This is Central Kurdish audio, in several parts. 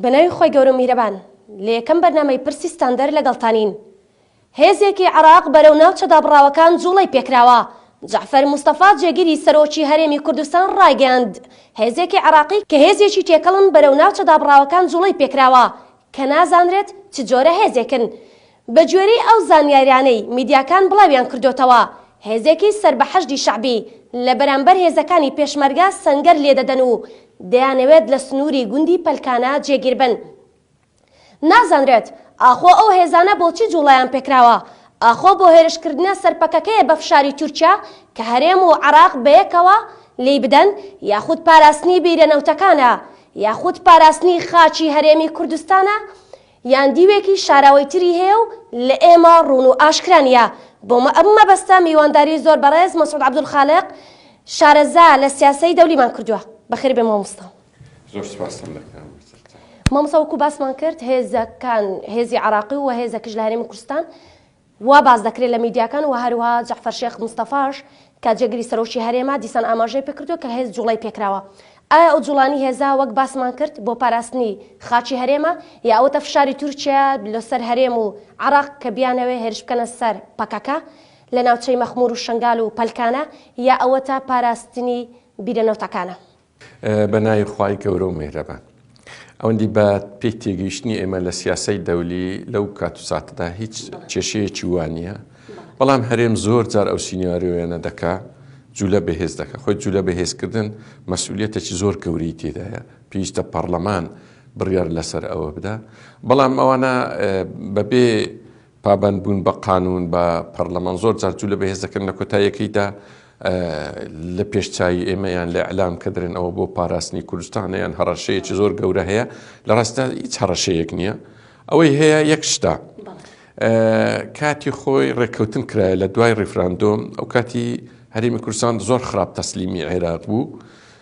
بەناوی خوای گەورە و میهرەبان لە یەکەم بەرنامەی پرسی ستاندەر لەگەڵتانین. هێزێکی عێراق بەرەو ناوچە دابڕاوەکان جوڵەی پێکراوە. جەعفەر مستەفا جێگری سەرۆکی هەرێمی کوردستان ڕایگەیاند، هێزێکی عێراقی کە هێزێکی تێکەڵن بەرەو ناوچە دابڕاوەکان جوڵەی پێکراوە کە نازانرێت چ جۆرە هێزێکن. بەگوێرەی ئەو زانیاریانەی میدیاکان بڵاویان کردۆتەوە، هێزێکی سەر بە حەشدی شەعبی لە بەرامبەر هێزەکانی پێشمەرگە سەنگەر لێدەدەن و دەیانەوێت لە سنووری گوندی پەلکانە جێگیر بن. نازانرێت ئاخۆ ئەو هێزانە بۆچی جووڵەیان پێکراوە؟ ئاخۆ بۆ هێرشکردنە سەر پەکەکەیە بە فشاری تورکیا کە هەرێم و عێراق بەیەکەوە لێی بدەن یاخود پاراستنی بیرە نەوتەکانە یاخود پاراستنی خاکی هەرێمی کوردستانە؟ یان دیوێکی شاراوەی تری هەیە و لە ئێمە ڕوون و ئاشکرا نییە. بۆ ئەم مەبەستە میوانداری زۆر بەڕێز مەسعود عەبدولخالق شارەزا لە سیاسەی دەولیمان کردووە. بەخێر بێ مامۆستا. زۆر سپاستان دەکەم. مامۆستا وەکو باسمان کرد هێزەکان هێزی عراقی و هێزە کش لە هەرێمی کوردستان وا باس دەکرێت لە میدیاکان و هەروەها جەعفەر شێخ مستەفاش کە جێگری سەرۆکی هەرێمە دیسان ئاماژەی پێکردووە کە هێز جوڵەی پێکراوە. ئایا ئەو جوڵانی هێزە وەک باسمان کرد بۆ پاراستنی خاکی هەرێمە یا ئەوەتە فشاری تورکیایە لۆسەر هەرێم و عێراق کە بیانەوێت هێرش بکەنە سەر پەکەکە لە ناوچەی مەخمور و شەنگال و پەلکانە یا ئەوەتە پاراستنی بیرە نەوتەکانە؟ بە ناوی خوای گەورە و مێهرەبان. ئەوەندی بە پێی تێگەیشتنی ئێمە لە سیاسەی دەولی لەو کات و ساتەدا هیچ کێشەیەکی وا نییە، بەڵام هەرێم زۆر جار ئەو سینیارۆیانە دەکا جولە بەهێز دەکا، خۆی جولە بەهێزکردن مەسئولیەتێکی زۆر گەورەی تێدایە، پێویستە پەڕڵەمان بڕیار لەسەر ئەوە بدا، بەڵام ئەوانە بەبێ پابەند بوون بە قانوون بە پەرلەمان زۆر جار جوو لە بەهێز دەکەن لە کۆتایەکەیدا لە پێش چاوی ئێمە یان لە ئەلام کە درێن ئەوە بۆ پاراستنی کوردستانە یان هەڕەشەیەکی زۆر گەورە هەیە لە ڕاستدا هیچ هەڕەشەیەک نییە ئەوەی هەیە یەک شتا کاتی خۆی ڕێککەوتن کرایە لە دوای ڕیفراندۆم ئەو کاتی هەرمی کوردستان زۆر خراپ تەسلیمی عێراق بوو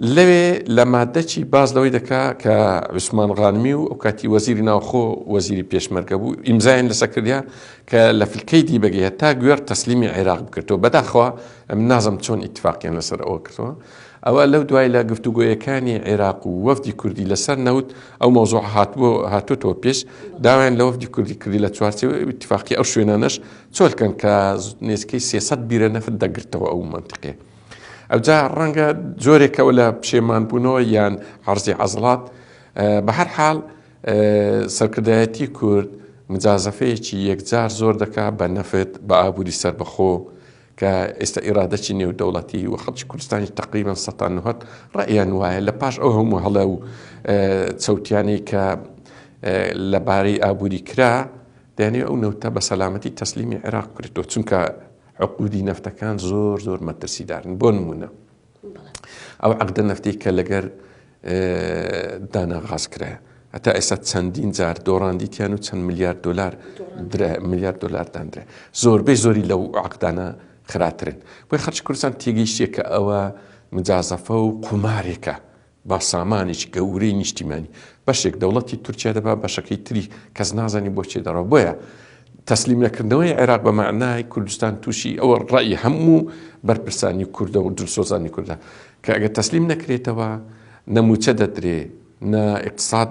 لەوێ لە مادە چی باس لەوەی دەکا کە عوسمان غانمی و ئەوکاتی وەزیری ناوخۆ وەزیری پێشمەرگە بوو ئیمزایان لەسە کردیا کە لە فلکەی دی بەگی هەتا گوێر تەسلیمی عێراق بکردەوە بەداخوا ئەم نازم چۆن ئیتفاقیان لەسەر ئەوە کردەوە ئەوە لەو دوای لە گفتوگۆیەکانی عێراق و وەفدی کوردی لەسەر نەوت ئەو مۆزۆع هاتبوو هاتوتەوە پێش داوایان لە وەفدی کوردی کردی لە چوارچەوە اتفاقی ئەو شوێنانەش چۆلکەن کە نێزکەی سێسەد بیرە نەفت دەگرتەوە ئەو منتیقێ ئەوجا ڕەنگە جۆرێکەوە لە پشێمانبوونەوە یان عرضی عەزڵات بە هەر حاڵ سەرکردایەتی کورد مجازەفەیەکی یەکجار زۆر دەکا بە نەفت بە ئابووری سربەخۆ کە ئێستا ئێرادەچی نێودەوڵەتی و خەڵکی کوردستانی تقریبان سەتان نهت ڕئیان وایە لە پاش ئەو هەموو هەڵە و چەوتیانی کە لەبارەی ئابووری کرا دەێ ئەو نەوتە بە سەلامەتی تەسلیمی عێراق کرێتەوە چونکە عقودی نەفتەکان زۆر زۆر مەترسیدارن بۆ نمونە ئەو عقدە نەفتی کە لەگەر دانا غاز کرایە هەتا ئێستا چەندین جار دۆڕاندیتیان و چەند میلیارد دلار میلیارد دلار دادرێ زۆربەی زۆری لەو عقدانە خراترن بۆی خەرچ کوردستان تێگەیشتێک کە ئەوە مجازەفە و قومارێکە با سامانێکی گەورەی نیشتیمانی بەشێک دەوڵەتی تورکیا دەبا بەشەکەی تری کەس نازانی بۆ چێ دەڕا بۆیە تەسلیم نەکردنەوەی عێراق بە معنای کوردستان تووشی ئەوە ڕای هەموو بەرپرسانی کوردە و دلسۆزانی کوردە کە ئەگە تەسلیم نەکرێتەوە نەموچە دەدرێ نە اقتصاد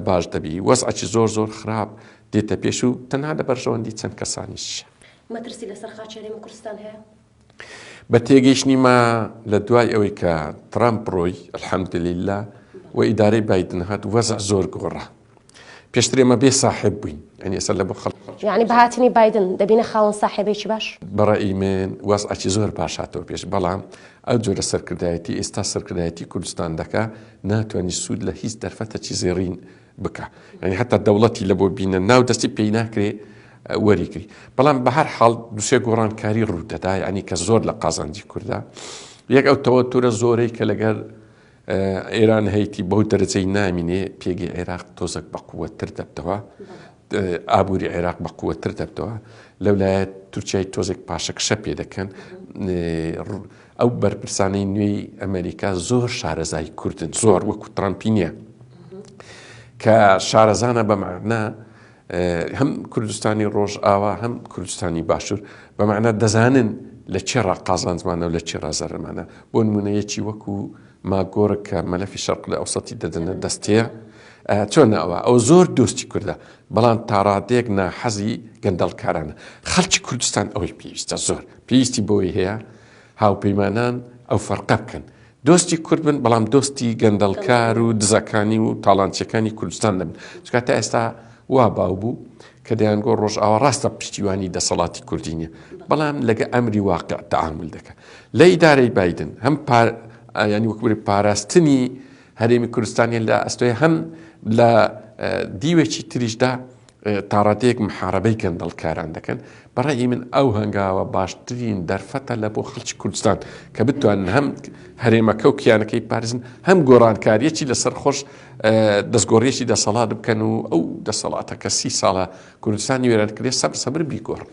باش دەبی وەزعی زۆر زۆر خراپ دێتە پێش و تەنها لە بەرژەوەندی چەند کەسانیش مەترسی لەسەر خاچێنێمە کوردستان هەیە بە تێگەیشتنی ما لە دوای ئەوەی کە ترامپ ڕۆی الحەمدللە و ئیدارەی بادن هات وەزع زۆر گۆڕا پێشترێ مە بێ ساحب بووین ئەنی ئێستا لە بۆ خەڵ یعنی بەهاتنی بادن دەبینە خاڵن ساحێبێکی باش بەڕی من وەزعکی زۆر باشاتەوە پێش بەڵام ئەو جۆرە سەرکردایەتی ئێستا سەرکردایەتی کوردستان دەکە ناتوانانی سوود لە هیچ دەرفەتەکی زێڕین بکا یانی هەتا دەوڵەتی لە بۆ بینە ناو دەستی پێی ناکرێ وەریگری بەڵام بە هەر حاڵ دوسێ گۆڕانکاری ڕوودەدا ینی کە زۆر لە قازانجی کووردا یەک ئەو تەوە تورە زۆرەی کە لەگەر ئێران هەیتی بەو دەرەجەی نامینێ پێگەی عێراق تۆزەک بە قووەتر دەبتەوە ئابووری عێراق بە قووەتر دەبتەوە لەولایەت تورکای تۆزێک پاشەکشە پێ دەکەن ئەو بەرپرسانەی نوێی ئەمەریکا زۆر شارەزای کوردن زۆر وەکو ترامپی نییە کە شارەزانە بەمانە هەم کوردستانی ڕۆژ ئاوا هەم کوردستانی باشوور بەمانە دەزانن لە چێڕا قازانزمانە و لە چێرا زەرمانە بۆ نمونەیەکی وەکو ماگۆر کە مەلەفی شەرق لە ئەوسەتی دەدەنە دەستەیە چۆن ئەوە ئەو زۆر دۆستی کوردە بەڵام تاڕادێک ناحەزی گەندەڵکارانە خەڵکی کوردستان ئەوەی پێویستە زۆر پێویستی بەوەی هەیە هاوپەیمانان ئەو فەرقە بکەن، دۆستی کورد بن، بەڵام دۆستی گەندەڵکار و دزەکانی و تاڵانچیەکانی کوردستان نەبن، چونکە تا ئێستا وا باو بوو کە دەیانگۆت ڕۆژئاوا ڕاستە پشتیوانی دەسەڵاتی کوردی نیە، بەڵام لەگە ئەمری واقع تەعامول دەکا. لە ئیدارەی بایدن هەم پا یانی وەک بری پاراستنی هەرێمی کوردستانیان لە ئەستۆیە، هەم لە دیوێکی تریشدا تاڕادەیەک محارەبەی گەندەڵکاران دەکەن، بەڕای من ئەو هەنگاوە باشترین دەرفەتە لە بۆ خەڵکی کوردستان کە بتوانن هەم هەرێمەکە و کیانەکەی بپارێزن هەم گۆڕانکاریەکی لەسەر خۆش دەستگۆڕیەکی دەسەڵات بکەن و ئەو دەسەڵاتە کە سی ساڵە کوردستانی وێران کرێ سەبر سەبر بیگۆڕن.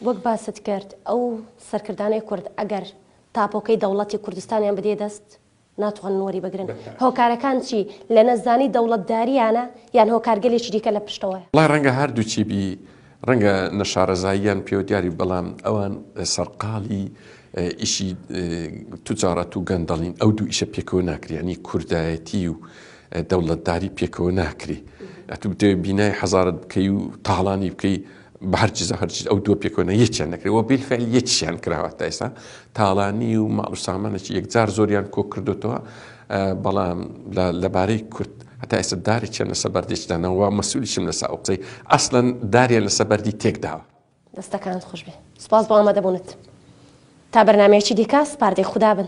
وەک باست کرد ئەو سەرکردانەی کورد ئەگەر تاپۆکەی دەوڵەتی کوردستانیان بدێ دەست، ناتوانن وەریبگرن هۆکارەکان چی لە نەزانی دەوڵەتداریانە یان هۆکارگەلێکی دیکە لە پشتەوەیە؟ وەڵای ڕەنگە هەردووکی بی ڕەنگە نەشارەزاییان پێوە دیاری بەڵام ئەوان سەرقاڵی ئیشی توجاڕەت و گەندەڵین ئەو دوو ئیشە پێکەوە ناکریانی کوردایەتی و دەوڵەتداری پێکەوە ناکری ئەتوو بتەوێت بینای حەزارت بکەی و تاڵانی بکەی بە هەر چیزە هەر چیز ئەو دووە پێکەوەنە یەکیان نەکرێت و بیلفعل یەکیان کراوە تا ئێستا تاڵانی و ماڵ و سامانێکی یەکجار زۆریان کۆ کردوتەوە بەڵام لەبارەی کورد هەتا ئێستا دارێکیان لەسە بەردێکدانەوە مەسوولیشم لەسا ئەو قسەی ئەسلەن داریان لەسە بەردی تێکداوە دەستەکانت خوش بێ سپاس بۆ ئامادەبوونت تا بەرنمەیەکی دیکە سپاردەی خوددا بن